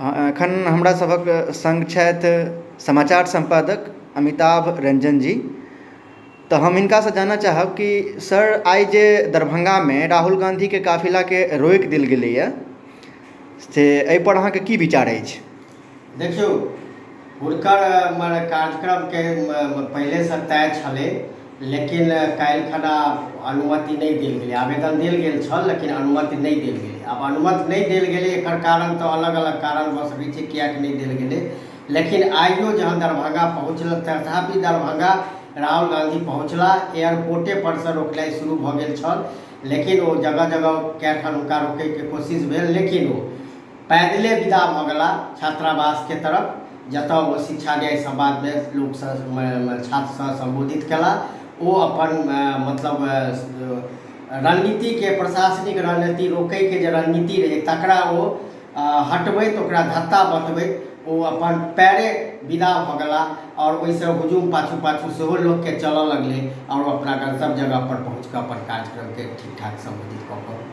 एखन हमरा सभक सङ्ग छथि समाचार सम्पादक अमिताभ रंजन जी तऽ हम हिनका से जानऽ चाहब कि सर आइ जे दरभंगामे राहुल गाँधीके काफिलाके रोकि देल गेलैया से एहि पर अहाँकेँ की विचार अछि देखियौ हुनकर कार्यक्रमके पहिलेसँ तय छलै लेकिन काल्हिखना अनुमति नहि देल गेलै आवेदन देल गेल छल लेकिन अनुमति नहि देल गेलै आब अनुमति नहि देल गेलै एकर कारण तऽ अलग अलग कारण भऽ सकै छै किएक नहि देल गेलै लेकिन आइयो जहन दरभंगा पहुँचलथि तथापि दरभंगा राहुल गाँधी पहुँचला एयरपोर्टेपर सँ रोकनाइ शुरू भऽ गेल छल लेकिन ओ जगह जगह कए ठाम हुनका रोकयके कोशिश भेल लेकिन ओ पैदले विदा भऽ गेलाह छात्रावास के तरफ जतऽ ओ शिक्षा न्याय संवाद मे लोक सँ छात्र सँ संबोधित केलाह। ओ अपन मतलब रणनीति के प्रशासनिक रणनीति रोकै के जे रणनीति रहै तकरा ओ हटबैत ओकरा धत्ता बतबैत ओ अपन पैरे विदा भऽ गेलाह आओर ओहि सँ हुजूम पाछू-पाछू सेहो लोक के चलऽ लगलै आओर ओ अपना गंतव्य जगह पर पहुँच कऽ अपन कार्यक्रम के ठीक-ठाक संबोधित कऽ कऽ